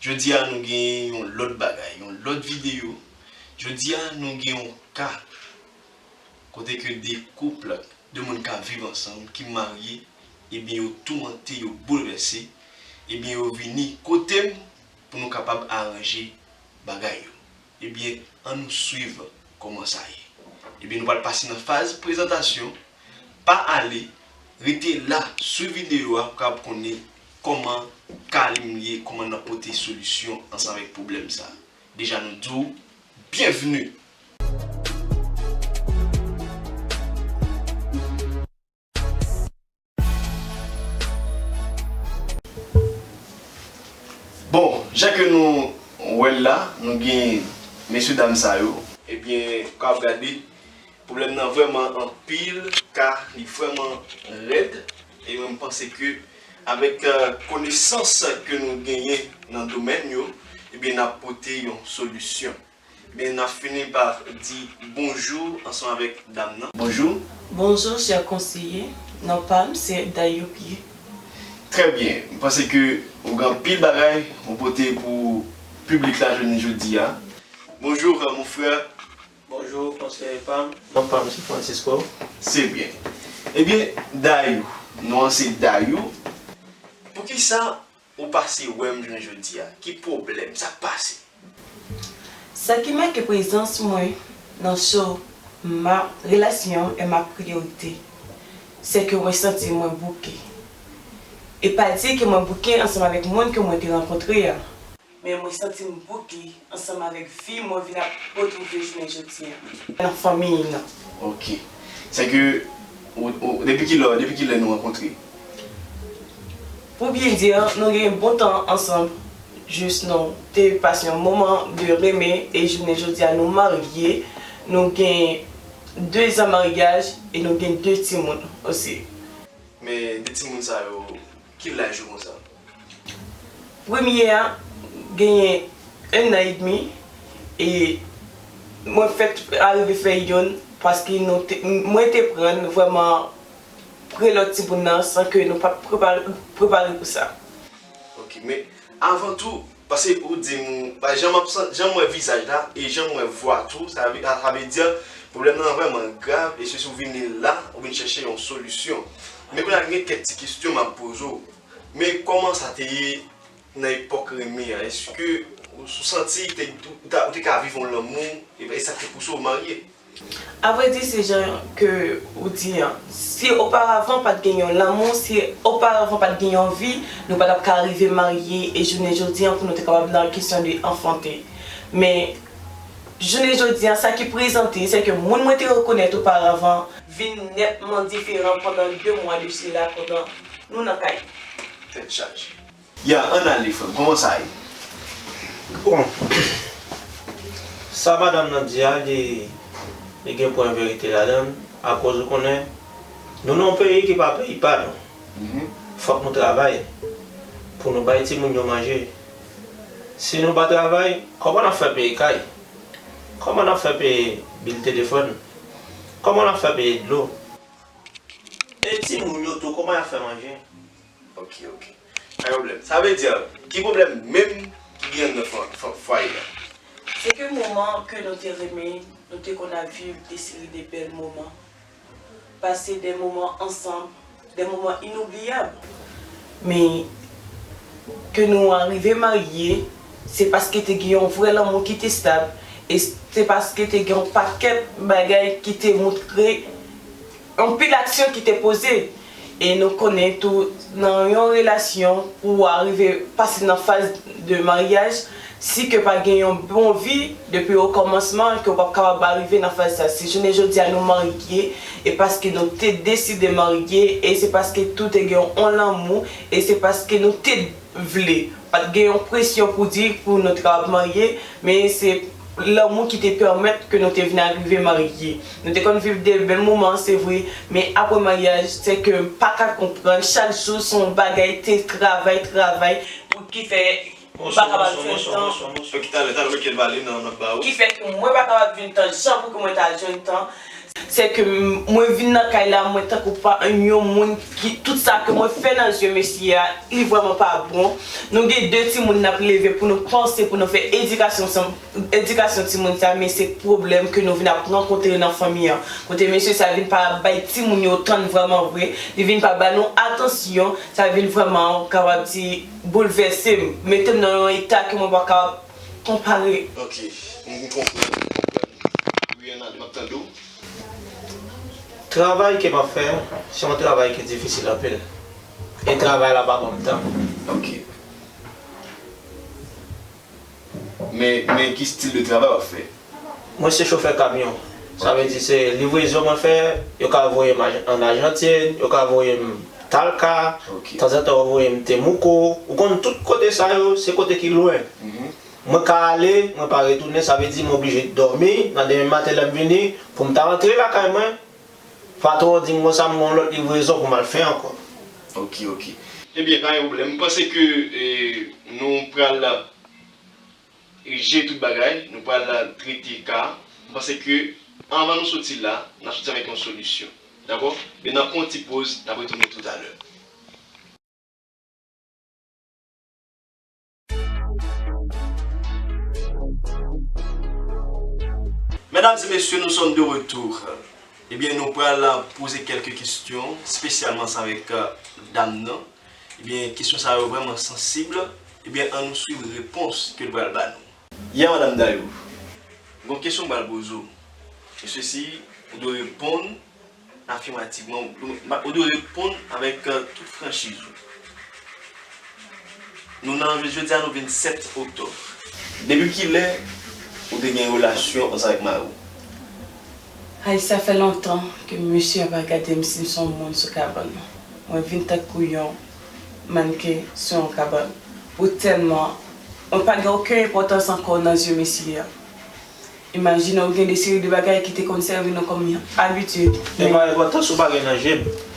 Jodi a nou gen yon lòt bagay, yon lòt videyo. Jodi a nou gen yon ka kote ke 2 couple, 2 moun kap viv ansanm, ki marye, ebyen yo toumante, yo boulvèse, ebyen yo vini kotem pou nou kapab aranje bagay yo. Ebyen an nou swiv koman sa ye. Ebyen nou pral pase nan faz prezantasyon, pa ale, rete la swiv video a pou kapab konnen koman Kalim ye, koman nap pote solisyon ansanm avèk pwoblèm sa. Deja nou di w byenvni! Bon, jan ke nou wè l la, nou gen mesye dam sa yo. Ebyen, ka ap gade, pwoblèm nan vrèman anpil, ka li vrèman rèd, e mwen m panse ke avèk konesans ke nou genyen nan domèn yo, ebyen n ap pote yon solisyon. Ebyen nap fini pa di bonjou ansanm avèk dam nan. Bonjou. Bonjou chè konseye, non pam se Dayopie. Trè byen, m panse ke ou gen anpil bagay ou pote pou piblik la jounen jodi a. Bonjour mon frère. Bonjou konseye pam, non pam se Francisco. Se byen. Ebyen Dayou, non an se Dayou, poukisa Ou pase wèm jounen jodia. Ki pwoblèm? Sak pase? Sa ki make prezans mwen nan show ma relation est ma priorité c'est que mwen santi mwen bouke e pa di ke mwen bouke ansanm avèk moun ke mwen te rankontre a. men mwen santi m bout li ansanm avèk vi mwen vin ap retwouve jounen jodi an. Nan fanmi m nan. Ok. Sè ke ou, depi ki lè ou, depi ki lè nou rankontre? Pou byen di, nou gen yon bon tan ansanm jis nou te pase yon moman de renmen e jounen jodi a nou marye, nou gen 2 zan maryaj e nou gen 2 timoun osi. Men 2 timoun sa yo, Ki laj ou konsa? Premye a genyen 1 nan edmi e mwen fèt arive fè yonn paske nou te, mwen te pran n vrèman pre lòt timoun nan san ke nou pa t prepare pou sa. Ok, men avan tou Pase ou dim ou pa janm ap san janm wè vizaj la e janm wè vwa tou sa vle sa vle di pwoblèm nan vrèman grav e se si ou vini la ou vin chèche yon solisyon men kounye a gen kèk ti kesyon map poze ou men kòman sa te ye nan epòk renmen an eske ou santi ou te ka viv yon lanmou e sa ki te pouse ou marye. A vre di se jan ke ou di an. Si oparavan pat gen yon lanmou, si oparavan pat gen yon vi, nou pa tap ka rive marye e jounen jodi an pou nou te kapab nan kesyon de anfante. Men jounen jodi an sa ki prezante se ke moun mwen te rekonèt oparavan, vin nètman diferan pandan 2 mwa de sila pandan nou nan kay. Tèt chaje. Ya ann ale frèm kòman sa ye. Bon sa madam nan di a li li gen pwen verite ladann akoz ou konnen nou nan yon peyi ki pa peyi pa nou fòk nou travay pou nou bay timoun yo manje si nou pa travay kòman n ap fè peye kay kòman n ap fè peye bil telefòn kòman n ap fè peye dlo e timoun yo tou kòman y ap fè manje. Ok ok pa gen problème sa vle dire ki problème menm ki gen anndan fwaye a. Se ke moman ke nou te renmen nou te konn ap viv de seri de bèl moman pase de moman ansanm de moman inoubliyab men ke nou arive marye se paske te gen yon vrè lanmou ki te stab e se paske te gen yon pakèt bagay ki te moutre Anpil aksyon ki te poze. E nou konnen tou nan yon relasyon pou ou arive pase nan faz de maryaj si ke pa gen yon bon vi depi o kòmansman ke ou pap kapab arive nan faz sa. Si jounen jodi a nou marye e paske nou te deside marye e se paske tou te gen on lanmou e se paske nou te vle. Pat gen yon presyon pou di pou nou te kapab marye men se. lanmou ki te pèmèt ke nou te vin arive marye. Nou te konn viv de bèl moman, se vre, men apre maryaj, se ke m pa ka konprann, chak jou se yon bagay, te travay, travay, pou ki fè m pa kapab jwenn tan, ki fè ke mwen pa kapab jwenn tan jan pou ke mwen ta jwenn tan Se ke mwen vin nan kay la mwen tankou pa yon moun ki tout sa ke mwen fè nan zye mesye a li vreman pa bon. Nou gen 2 timoun nap leve pou nou panse pou nou fè edikasyon sa edikasyon timoun sa men se pwoblèm ke nou vin ap rankontre nan fanmi an kote mesye sa vin pa bay timoun yo tan vreman vre li vin pa ba nou atansyon sa vin vreman kapab di boulvèsem metem nan yon eta ke mwen pa kapab Konpare. Ok m konprann m konprann wi Hernán map tande w. Travay ke map fè an se yon travay ki difisil anpil e travay la pa banm tan. Ok men men ki stil de travay wap fè? Mwen se chofè kamyon. Sa vle di se livrezon mwen fè, yo ka voye m an Ajantin, yo ka voye m Talca, tanzantan yo voye m Temuco, ou konn tout kote sa yo se kote ki lwen. Mwen ka ale, mwen pa retounen, sa vle di mwen oblije dòmi, nan demen maten lè m vini, pou m ta antre lakay mwen, patwon an di m konsa m gen yon lòt livrezon pou m al fè ankò. Ok, ok. Ebyen pa gen pwoblèm. M panse ke nou pral. Rije tout bagay, nou pral trete ka a. M panse ke anvan nou soti la, n ap soti avèk yon solisyon. Dakò? Men n ap pran yon ti poz, n ap retounen toutalè. Medam e mesye, nou sòm de retou. Ebyen, nou pral poze kèlke kesyon, spesyalman sa avèk dam nan. Ebyen kesyon sa yo vrèman sansib, ebyen an nou swiv repons ke l pral ba nou. Ya madam Dayou, gon kesyon m pral poze w, e sesi ou dwe reponn afimativman, ou dwe reponn avèk tout franchiz ou. Nou nan, jodi a nou vin 7 oktòb. Depi kilè ou te gen relasyon ansanm avèk mari w? Hay sa fè lontan ke mesye a pa gadem sim son moun sou kabann nan mwen vin tankou yon mannken sou yon kabann pou tèlman mwen pa gen oken enpòtans ankò nan zye mesye a imajine ou gen de seri de bagay ki te konn sèvi nou kòm yon abitid men Enpòtans ou pa gen nan jem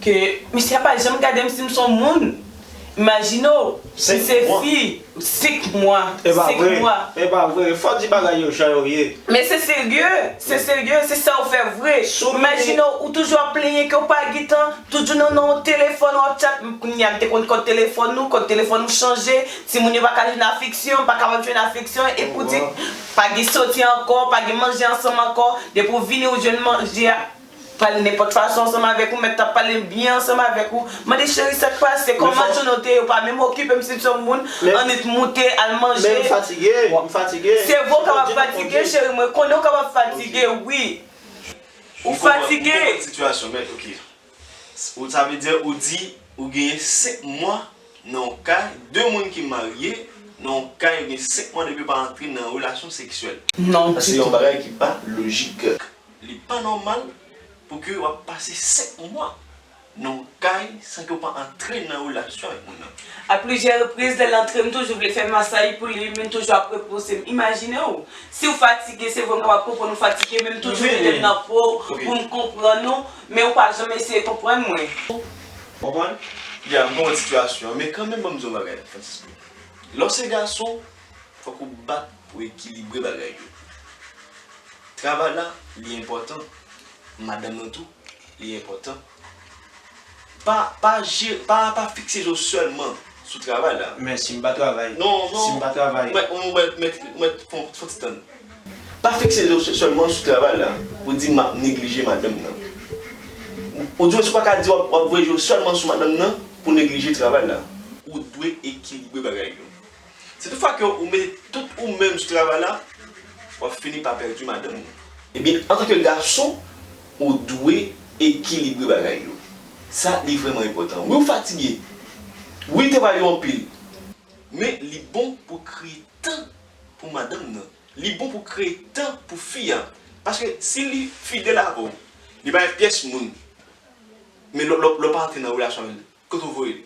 Ke misye a pa janm gadem sim son moun imajine w si se fi 5 mwa 5 mwa. Epa vre fò di bagay yo jan yo ye. Men se serye se serye se sa ou fè vre imajine w ou toujou ap plenyen ke w pa gitan toujou nan nan yon telefòn wap chat kounya m te konn kòd telefòn nou kòd telefòn nou chanje timoun yo pa ka jwenn afeksyon pa kapab jwenn afeksyon e pou di pa gen soti ankò pa gen manje ansanm ankò depi w vini ou jwenn manje a Pale nenpòt fason ansanm avèk ou, mèt la pale byen ansanm avèk ou, mande cheri sak pase, kòman jounen w te ye, ou pa menm okipe m si m se yon moun, annik moute al manje. Men m fatige, m fatige. Sevo w kapab fatige cheri mwen konnen w kapab fatige wi. Ou fatige. Ou konprann sitiyasyon mèt ok. Sa vle di ou di ou genyen 5 mwa nan yon kay, 2 moun ki marye nan yon kay yo gen 5 mwa depi yo pa antre nan yon relasyon seksyèl. Non ditou. Sa se yon bagay ki pa lojik. Li pa nòmal pou ke wap pase 5 mwa nan yon kay san ke w pa antre nan relasyon avèk moun nan. A plizyè repriz lè l antre m toujou vle fè masay pou li men l toujou ap repouse m. Imajine w si w fatige se vre m kapab konprann ou fatige men m toujou mete m nan po w pou m konprann ou men ou pa janm eseye konprann mwen. Konprann? Ya m konprann sitiyasyon an men kanmenm banm di w yon bagay Francisco. Lè w se gason Fòk ou bat pou ekilibre bagay yo. Travay la li enpòtan, madanm nan tou li enpòtan. Pa pa je pa pa fikse je w sèlman sou travay la. Men si m pa travay? Non non. Si m pa travay? Mèt ou mèt mèt mèt fon fon ti tann. Pa fikse je w sèlman sou travay la pou di m ap neglije madanm nan. Oudiwens ou pa ka di w ap voye je w sèlman sou madanm nan pou w neglije travay la. Ou dwe ekilibre bagay yo. Si tout fwa ke ou mete tout ou menm sou travay la, wap fini pa pèdi madanm ou. Ebyen antanke gason ou dwe ekilibre bagay yo. Sa li vrèman enpòtan. Wi ou fatige, wi travay ou anpil, men li bon pou kreye tan pou madanm nan, li bon pou kreye tan pou fi a, paske si li fidèl avèw, li pa gen pyès moun, men lè w pa antre nan relasyon avèl, Kot ou voye?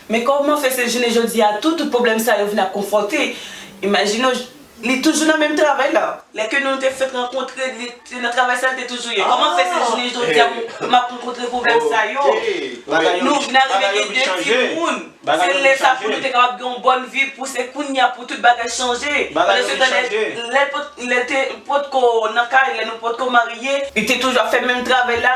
Men kòman fè se jounen jodi a tou tout pwoblèm sa yo vin ap konfwonte? Imajine w, li toujou nan menm travay la. Lè ke nou te fèt rankontre, li se nan travay sa l te toujou ye. Kòman fè se jounen jodi a m ap rankontre pwoblèm sa yo? Nou vin arive gen 2 timoun. Se lè sa pou nou te kapab gen yon bòn vi pou se kounya pou tout bagay chanje. Pandansetan lè l te potko nan kay, lè nou potko marye, li te toujou ap fè menm travay la,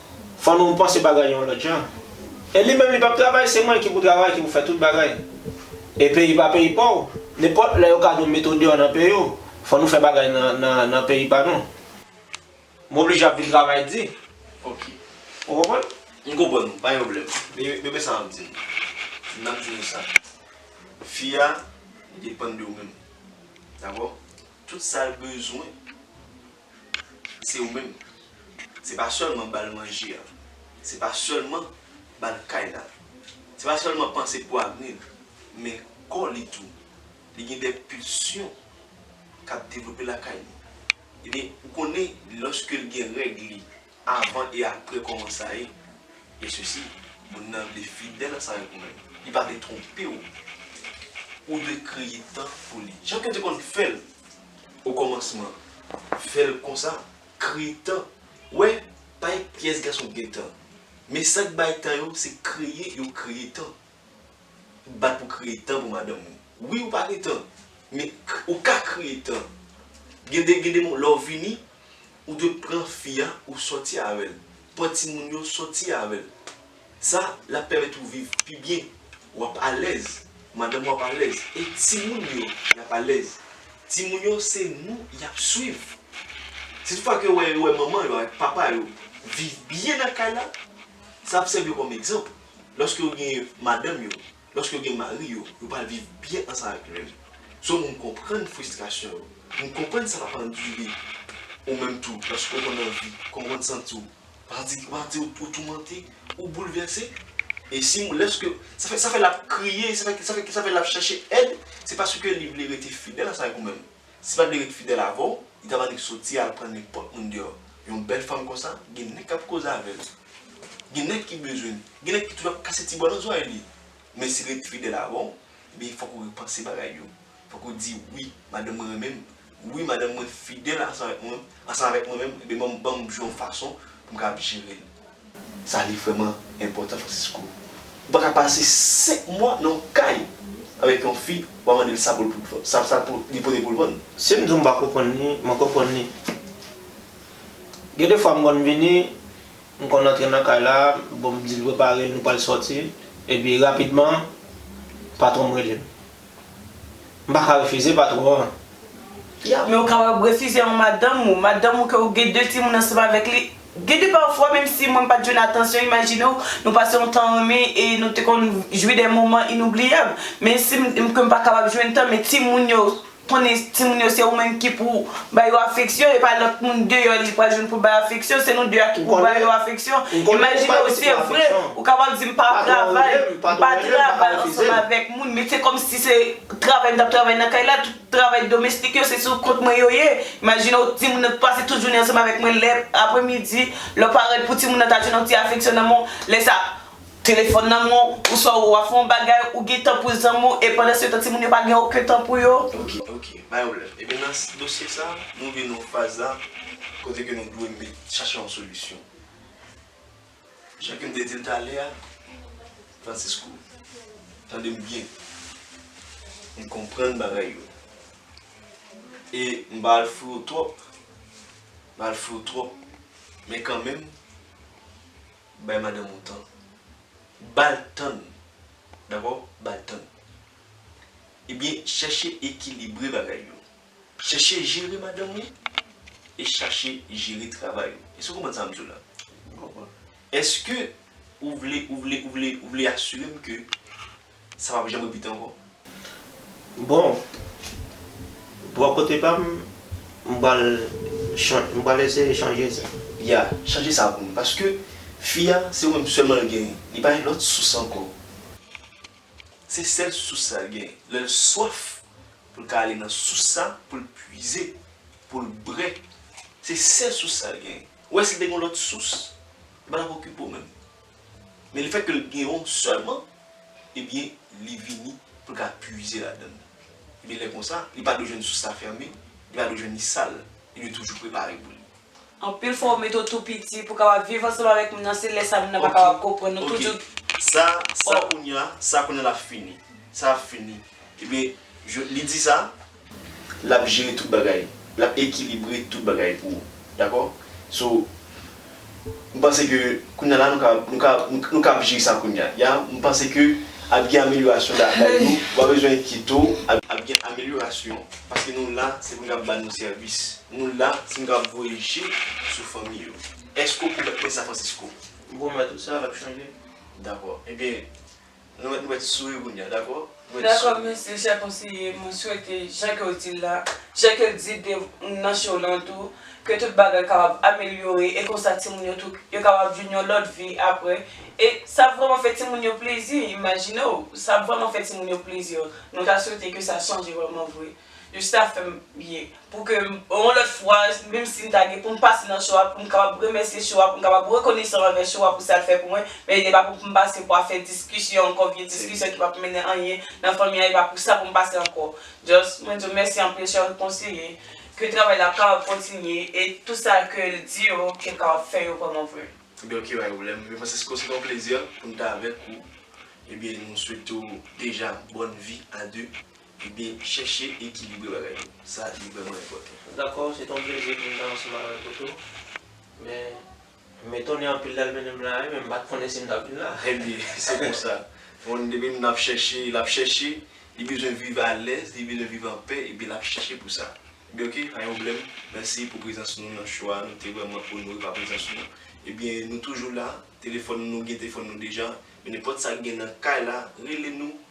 Fò nou panse bagay yon lòt jan. E li menm li pap travay se mwen ki pou travay ki pou fè tout bagay. E peyi pa peyi paw, nenpòt lè yo ka nou mete w deyò nan peyi w, fò nou fè bagay nan peyi pa nou. M oblije ap vin travay di. Ok. Ou konprann? M konprann ou, pa gen pwoblèm. Men men sa map di nou. M ap di nou sa. Fi a depann de ou menm. Dakò? Tout sa l bezwen. se ou menm se pa sèlman bal manje a se pa sèlman bal kay la se pa sèlman panse pou avni l men kò li tou li gen de pilsyon kap devlope lakay li ebyen ou konnen lòske l gen règ li Avan e apre kòman sa ye? E sesi, moun nan vle fidèl ansavèk ou menm. Li pa vle twonpe ou. Ou dwe kreye tan pou li. Jan ke te konn fèl o kòmansman. Fèl konsa. Kreye tan. Ou wè, pa ekp pyès gason k gen tan. Men sak bay tan yo, se kreye yo kreye tan. bat pou kreye tan pou madanm ou. Wi ou pa gen tan, men ou ka kreye tan. Gen de gen de moman lè ou vini, ou dwe pran fi a ou sòti avè l. Pran timoun yo sòti avè l. Sa l ap pèmèt ou viv pi byen. W ap alèz, madanm ou ap alèz e timoun yo y ap alèz. Timoun yo se nou y ap swiv. Si tout fwa ke yo wè manman yo avèk papa yo viv byen nan kay la, sa ap sèvi yo kòm egzanp. Lòske yo gen madanm yo, lòske yo gen mari yo, yo pral viv byen ansanm avèk nou menm. So m konprann fristrasyon yo. M konprann sa pap andire. Ou menm tou, lòske ou konn anvi, kòman ou konn santi w? Pral di, pral di ou toumante, ou boulvèse. E si m, lòske, sa fè, sa fè l ap kriye, sa fè, sa fè l ap chèche èd, se paske li vle rete fidèl ansanm avèk ou menm. Si pat vle ret fidèl avèw, li ta mande soti al pran nenpòt moun deyò. Yon bèl fanm konsa, gen nèg kap koze avèl. Gen nèg ki bezwenl. Gen nèg ki toujou ap kase ti bò nan zòrèy li. Men si li ret fidèl avèw, ebyen fòk ou repanse bagay yo. Fòk ou di, wi, madanm mwen renmenm. Wi, madanm mwen fidèl ansanm avèk mwen, ansanm avèk mwen menm, ebyen banm jwe yon fason poum kapab jerel. Sa li vrèman enpòtan Francisco. Ou pa ka pase 5 mwa nan yon kay avèk yon fi wap mande l sa pou li pote pou l vann. Si m di w m pa konprann li, mwen konprann li. Gen de fwa m konn vini, m konn antre nan kay la, bon m di l prepare l nou pral sòti, epi rapidman patwon m rele m. M pa ka refize patwon an. Ya, men ou kapab refize yon madanm ou, madanm ou ke ou gen 2 timoun ansanm avèk li. Gen de pafwa, menm si mwen m pa t jwenn atansyon, imajine w, nou pase yon tan renmen e nou te konn jwi de moman inoubliyab. Men si m di ke m pa kapab jwenn tan, men timoun yo, konnen timoun yo se ou menm ki pou ba yo afeksyon, e pa lòt moun deyò li pral jwenn pou l ba yo afeksyon, se nou 2 a ki pou ba yo afeksyon. Imajine w, se vre, ou kapab di m pa travay, m pa travay ansanm avèk. moun met se kòmsi se travay m tap travay nan kay la tout travay domestik yo se sou kont mwen yo ye imajine w timoun nan t pase tout jounen ansanm avèk mwen lè aprè midi lè w parèt pou timoun nan ta jwenn yon ti afeksyon nan men w lè sa telefòn nan men w ou swa wap fè yon bagay ou gen tan pou zanmi w e pandan se tan timoun yo pa gen oken tan pou yo. Ok ok pa gen pwoblèm ebyen nan dosye sa nou rive nan yon faz la kote ke nou dwe met chache yon solisyon. Jan ke m te di l talè a, Francisco, tande m byen. M konprann bagay yo. E m pa al fri w twòp, m pa al fri w twòp, men kanmenm, bay madanm ou tan. Ba l tan l. Dakò? Ba l tan l. Ebyen, chèche ekilibre bagay yo. Chèche jere madanm ou e chache jere travay ou. Èske ou konprann sa m di w la? M konprann. Èske ou vle, ou vle, ou vle, ou vle asire m ke sa pap janm repete ankò? Bon, bò kote pa m, m pral chan, m pral eseye chanje sa. Ya, chanje sa pou m. Paske fi a, se ou menm sèlman l genyen. Li pa gen lòt sous ankò. Se sèl sous sa l genyen. Lè l swaf. Pou l ka ale nan sous sa pou l puize, pou l bre. Se sèl sous sa l genyen. Ou wè si l te gen yon lòt sous, li pa t ap okipe w menm. Men lefètke l gen yon sèlman, ebyen li vini pou l ka puize ladan l. Ebyen lè konsa, li pa dwe jwenn sous sa fèmen, li pa dwe jwenn li sal, li dwe toujou prepare pou li. Anpil fwa ou mete w tou piti pou kapab viv ansanm avèk moun nan se lè sa moun nan pa kapab konprann ou toujou Sa sa kounya sa kounya lap fini sa ap fini ebyen je li di sa lap jere tout bagay lap ekilibre tout bagay pou ou dakò so m panse ke kounya la nou ka nou ka nou ka ap jere sa kounya ya m panse ke ap gen amelyorasyon la kay nou ou pa bezwen enkyete w ap gen amelyorasyon paske nou la se pou nou ap ba nou sèvis. Nou la si nou kab voye je sou fanmi yo. Èske ou pwomèt mwen sa Francisco? M pwomèt ou sa, l ap chanje. Dakò. Ebyen, nou mèt nou mèt souri kounye a, dakò? Nou mèt Dakò, souri. mèsi chè konseye. Mwen swete, jan ke w di l la, jan ke l di de nan show lan tou, ke tout bagay kapab amelyore e konsa timoun yo tou, yo kapab jwenn yon lòt vi aprè. E sa ap vrèman fè timoun yo plezi, imajine w! Sa ap vrèman fè timoun yo plezi. Nou ta swete ke sa chanje vrèman vre. Yo chita fè m byen. Pou ke yon lòt fwa, menm si m ta gen pou m pase nan cho a, pou m kapab remèsye cho a, pou m kapab rekonesan anvè cho a pou sa l fè pou mwen, men e pa pou m pase pou a fè diskisyon ankò, vye diskisyon ki p ap mennen anyen nan fanmi an, e pa pou sa pou m pase ankò. Just, mwen di w mèsi anpil chè konseye, ke travay la kapab kontinye, e tout sa ke l di yo, ke l kapab fè yo vrèman vre. Ebyen ok pa gen pwoblèm, M. Francisco se te yon plezi pou m te avèk ou, ebyen nou swete w deja bòn vi a 2. Ebyen chèche ekilibre bagay yo. Sa li vrèman enpòtan. Dakò, se te yon plezi pou m ta ansanm avèk ou tou. Men, m etone anpil lè l mennen m la, men m pa t konnen si m t ap vin la. Ebyen, se konsa. Moun depi moun ap chèche, l ap chèche, li bezwen viv alèz, li bezwen viv anpè, ebyen l ap chèche pou sa. Ebyen ok, pa gen pwoblèm. Mèsi pou prezans nou nan show a. Nou te vrèman onore pa prezans nou. Ebyen, nou toujou la. Telefòn nou, gen telefòn nou deja. Men nenpòt sa ki gen nan kay la, rele nou.